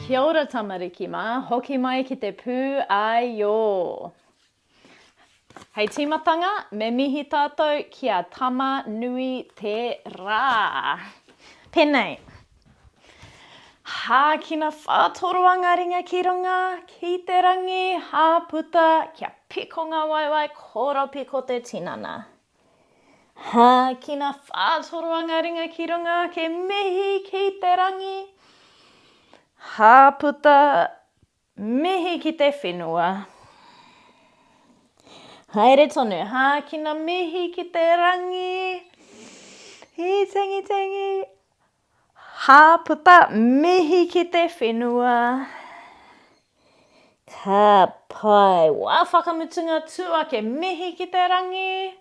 Kia ora tamariki mā, hoki mai ki te pū āiō. Hei tīmatanga, me mihi tātou ki a Tama nui te rā. Penei. Hākina whātoroa ngā ringa ki runga, ki te rangi, hāputa, kia piko ngā waewae, koropiko te tinana. Hākina whātoroanga ringa ki runga ake mihi ki te rangi Hāputa mihi ki te whenua Haere tonu Hākina mihi ki te rangi Hī tangi tangi Ha puta mihi ki te whenua. Ka pai. Wa whakamutunga tu ake mihi ki te rangi.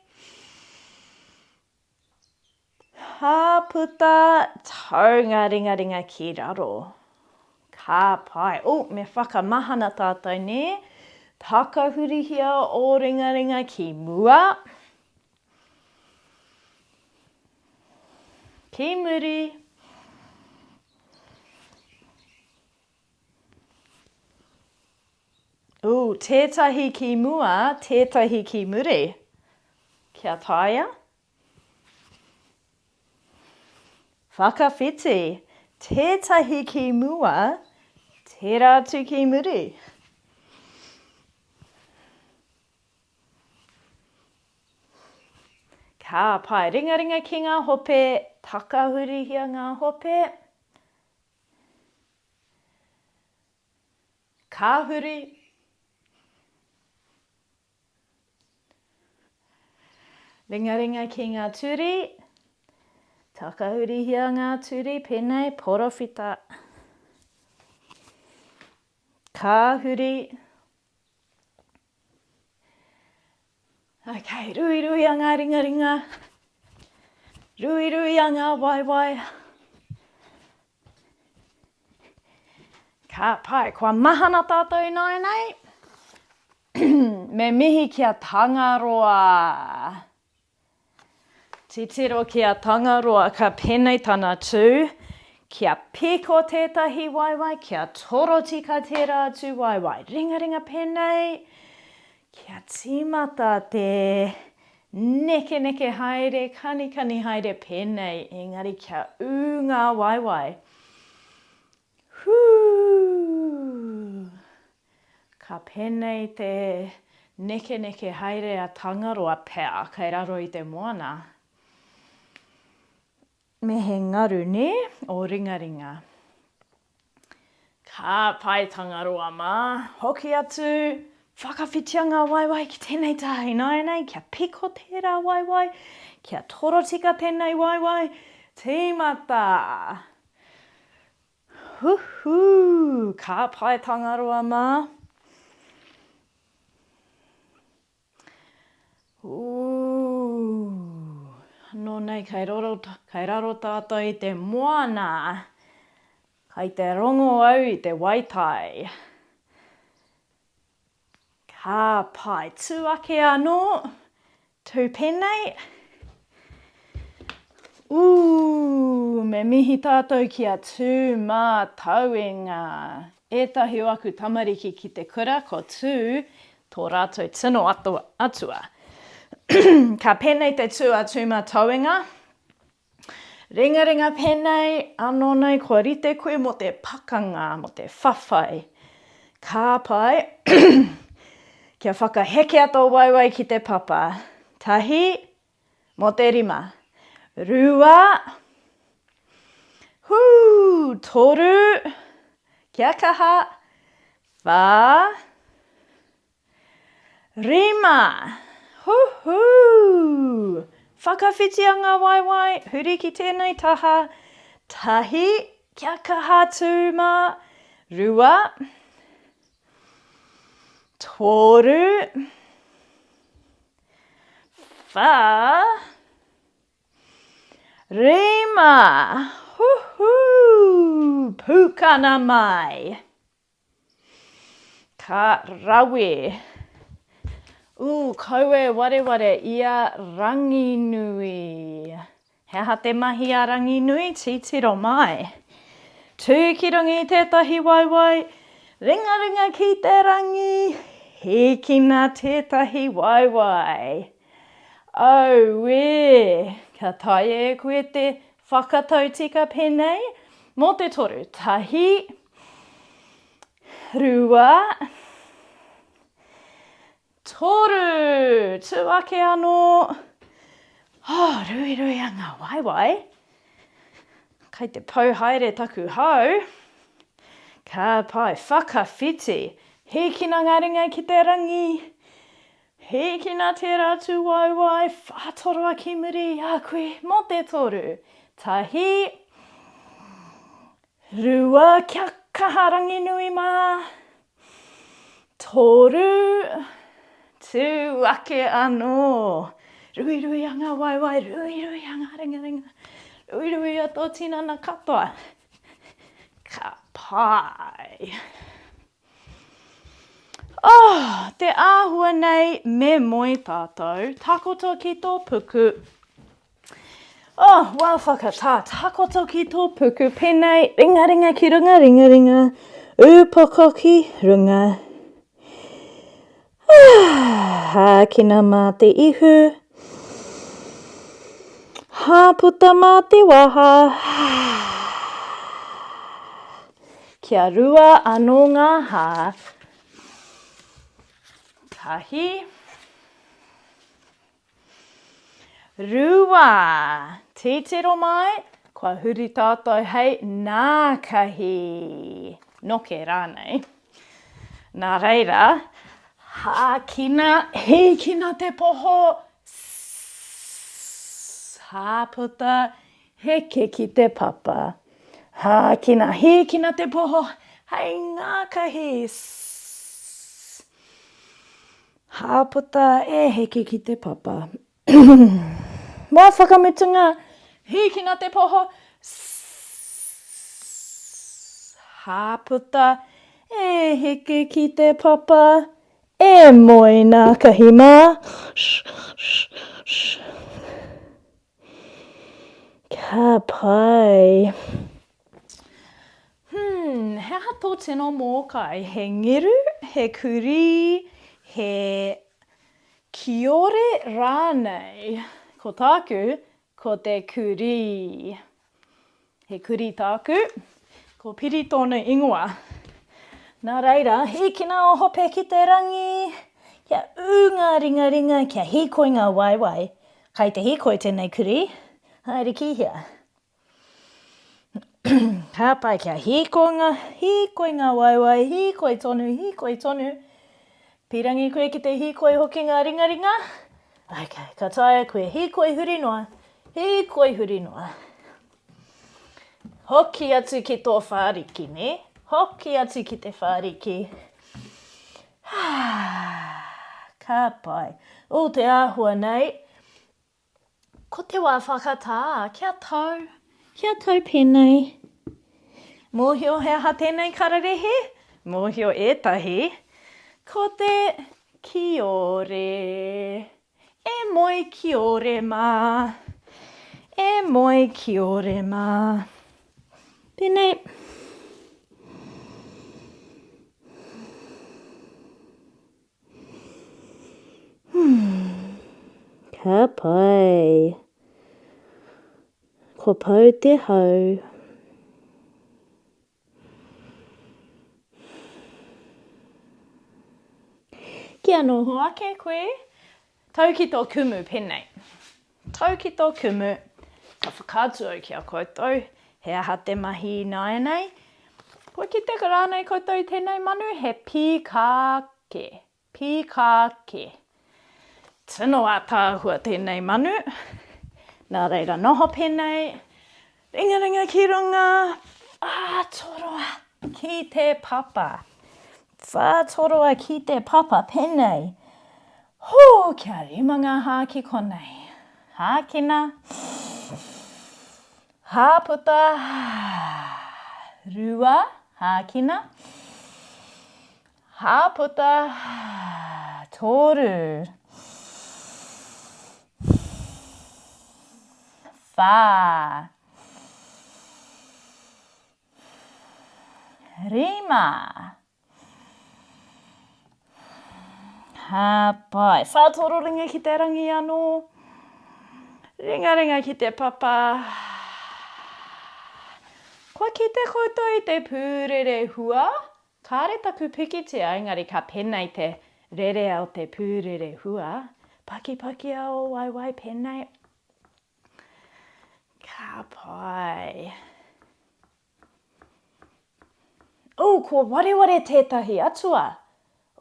Ha puta tau nga ringaringa ki raro. Ka pai. Oh, me whakamahana tatou ne. Takahurihia o ringaringa ki mua. Ki muri. Ooh, tētahi ki mua, tētahi ki muri. Kia taea. Whakawhiti. Tētahi ki mua, tērā atu ki muri. Ka pae ringaringa ki ngā hope, takahurihia ngā hope. Ka huri. Ringaringa ki ngā turi, takahurihia ngā turi, pēnei, porowhita. Ka huri. Ok, ruiruia ngā ringaringa. Ruiruia ngā waewae. Ka pai, kua mahana tātou ināinei. Me mihi ki a Tangaroa. Titiro ki a Tangaroa ka penei tana tū, Kia piko tētahi waewae, kia torotika tērā atu waewae. Ringaringa penei, Kia tīmata te nekeneke haere, kanikani haere penei, engari kia ū ngā waewae. Hū! Ka pēnei te nekeneke haere a Tangaroa pea kei raro i te moana. Me he ngaru, nē, o Ringaringa. Ka pai Tangaroa mā, hoki atu, whakawhitia ngā waewae ki tēnei taha ināianei, kia piko tērā waewae, kia torotika tēnei waewae, tīmata! Huhū! Ka pai Tangaroa mā! Ooh! Nō nei kei roro, kei raro tātou i te moana. Kei te rongo au i te waitai. Ka pae tū ake anō, tū pēnei. Ooh, me mihi tātou ki a Tū Mātauenga. Ētahi o aku tamariki ki te kura, ko Tū tō rātou tino atua. Ka pēnei te tū a Tū Mātauenga. Ringaringa pēnei anō nei kua rite koe mō te pakanga, mō te whawhai. Ka pai kia whakahekea tō waewae ki te papa, tahi mō te rima, rua, hū, toru, kia kaha, whā, Rima! Huhū! Whakawhitia ngā waewae, huri ki tēnei taha, tahi, kia kaha tū mā, rua, tōru, whā, rima! Huhū! Pūkana mai! Ka rawe! Ooh, kau e wareware i a Ranginui. He aha te mahi a Ranginui? Titiro mai! Tū ki runga i tētahi waewae, ringaringa ki te rangi, hīkina tētahi waewae. Auē! Ka taea e koe te whakatau tika pēnei mō te toru, tahi, Rua. Toru. Tū ake anō. Oh, ruiruia ngā waewae. Kai te pau haere taku hau. Ka pai, whakawhiti. Hīkina ngā ringa ki te rangi. Hīkina tērā atu waewae, whātoroa ki muri i a koe mō te toru. Tahi. Rua kia kaha Ranginui mā. Toru, tū ake anō. Ruirui a ngā waewae, ruirui a ngā ringaringa, ruirui a tō tinana katoa. Ka pai. Oh, te āhua nei me moe tātou, takoto ki tō puku, Oh, well, whakatā takoto ki tō puku penei, ringaringa ki runga, ringaringa, ūpoko ki runga. Hākina mā te ihu, hāputa mā te waha. Kia rua anō ngā hā. Tahi. Rua, titiro mai, kua huri tātou hei nākahi, noke rānei. Nā reira, hākina, hīkina te poho, sss, hāputa, heke ki te papa. Hākina, hīkina te poho, hei ngākahi, sss. Hāputa e heke ki te papa. Mō whakamutunga, hīkina te poho. Hāputa e heke ki te papa. E moe nā Kahi mā. Ka pai. Humm, he aha tō tino mōkai? He ngeru, he kurī, he kiore rānei? Ko tāku, ko te kurī. He kurī tāku. Ko Piri tōnu ingoa. Nā reira, hīkina o Hope ki te rangi! Kia ū ngā ringaringa, kia hīkoi ngā waewae. Kai te hīkoi tēnei kurī. Haere ki hea? Ka pai kia hīkoi ngā waewae, hīkoi tonu, hīkoi tonu. Pīrangi koe ki te hīkoi hokinga ringaringa. Ok, ka taea koe hīkoi huri noa, hīkoi huri noa. Hoki atu ki tō whāriki, nē? Hoki atu ki te whāriki. Ka pai. Ū te āhua nei. Ko te wā whakatā, kia tau, kia tau pēnei. Mōhio he aha tēnei kararehe? Mōhio ētahi, ko te kiore. E moe kiore mā, e moe kiore mā. Pēnei. Ka pai. Ko pau te hau. Kia noho ake koe. Tau ki tō kumu pēnei. Tau ki tō kumu, ka whakaatu au ki a koutou, he aha te mahi ināianei? Kua kitea rānei koutou i tēnei manu he pīkā kē, pīkā kē? Tino ātaahua tēnei manu, nā reira noho pēnei. Ringaringa ki runga, whātoroa ki te papa. Whātoroa ki te papa, pēnei, Hū, kia rima ngā hāki konei. Hākina, hāputa, rua, hākina, Hāputa, toru. Whā. Rima. Hāpai. Whā toro ringa ki te rangi anō. Ringaringa ki te papa. Kua kite koutou i te pūrere hua. Kāre taku pikitia engari ka penei te rerea o te pūrere hua, pakipaki a ō waewae penei, ka pai. Ooh kua wareware tētahi atua!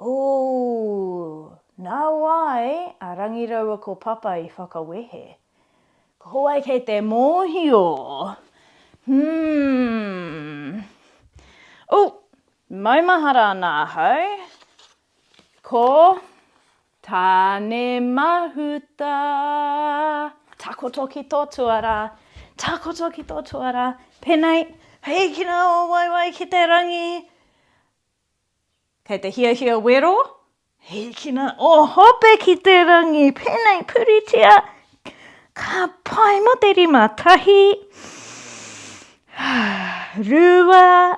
Ooh! Nā wai a Rangi raua ko Papa i whakawehe. Ka hōai kei te mōhio. Hmm. U, maumahara ana ahau. Ko Tānemahuta. Takoto ki tō tuarā. Takoto ki tō tuarā. Pēnei, hīkina ō waewae ki te rangi. Kei te hiahia wero, hikina o hope ki te rangi, penei puritia, ka pai mo te rima, tahi, rua,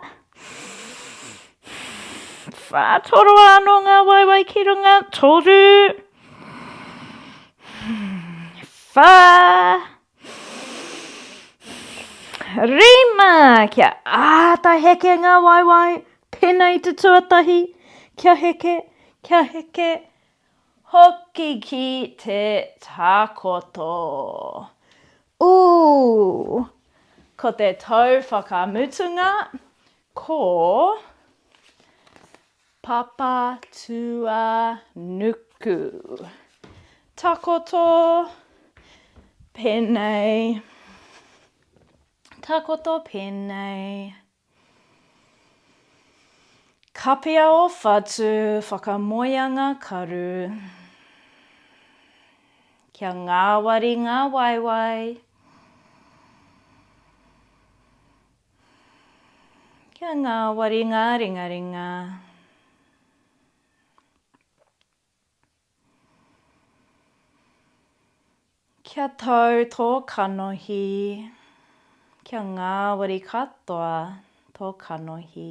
wha, toroa ano nga waewae ki runga, toru, wha, Rima! Kia āta heke ngā waewae, pēnā i te tuatahi, kia heke, kia heke, hoki ki te takoto. Ū! Ko te tau whakamutunga, ko. Papa tua nuku. Takoto. Penei. Takoto penei. Kapia o whatu whakamoeanga karu. Kia ngawari nga waewae. Kia ngāwari ngā ringaringa. Kia tau tō kanohi. Kia ngāwari katoa tō kanohi.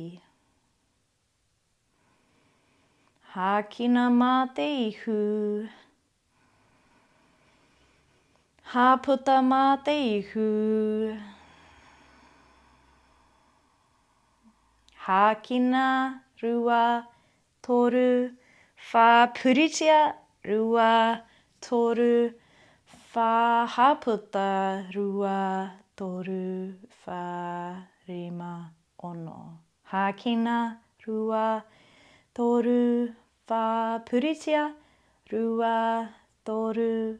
Hākina mā te ihu. Hāputa mā te ihu. Hākina, rua, toru, whā, puritia, rua, toru, whā, hāputa, rua, toru, whā, rima, ono. Hākina, rua, toru, whā, puritia, rua, toru,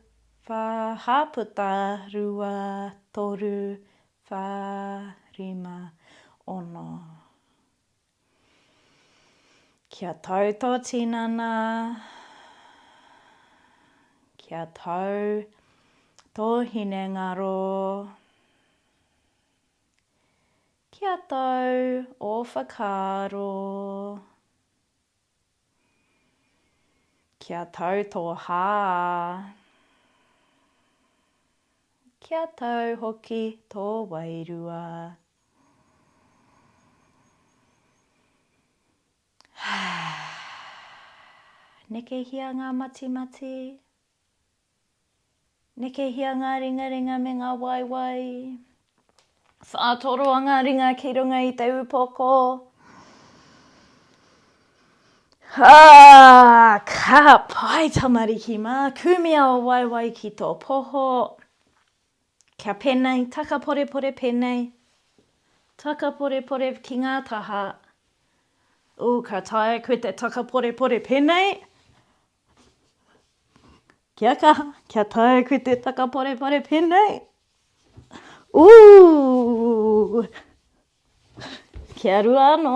whā, hāputa, rua, toru, whā, rima, ono. Kia tau tō tinana, kia tau tō hinengaro, Ki a tau o whakaaro. Ki a tau tō hā. Ki a tau hoki tō wairua. Nekehia ngā matimati. Nekehia ngā ringaringa me ngā waewae. Whātoroa ngā ringa ki runga i te upoko. Ā, ka pai tamariki mā, kumia ō waewae ki tō poho. Kia pēnei, taka porepore pēnei, taka porepore ki ngā taha. Ū, ka taea koe te taka porepore pēnei. Kia kaha, kia tae koe te takaparepare penei. Ooh! Kia rua ano.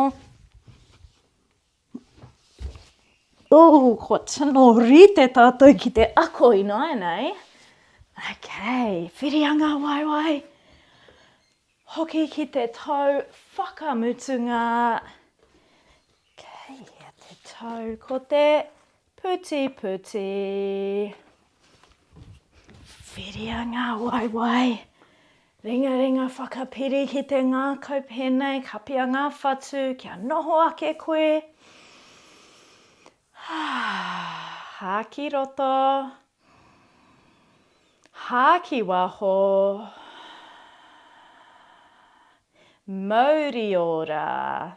Ooh, kua tino rite tatou ki te ako inoa nei. Okay, whiri anga waewae. Hoki ki te tau whakamutunga. Kei hea te tau? Ko te putiputi. Whiria ngā waewae. Ringaringa whakapiri ki te ngākau pēnei, kapia ngā whatu kia noho ake koe. Hā ki roto. Hā ki waho Mauri ora.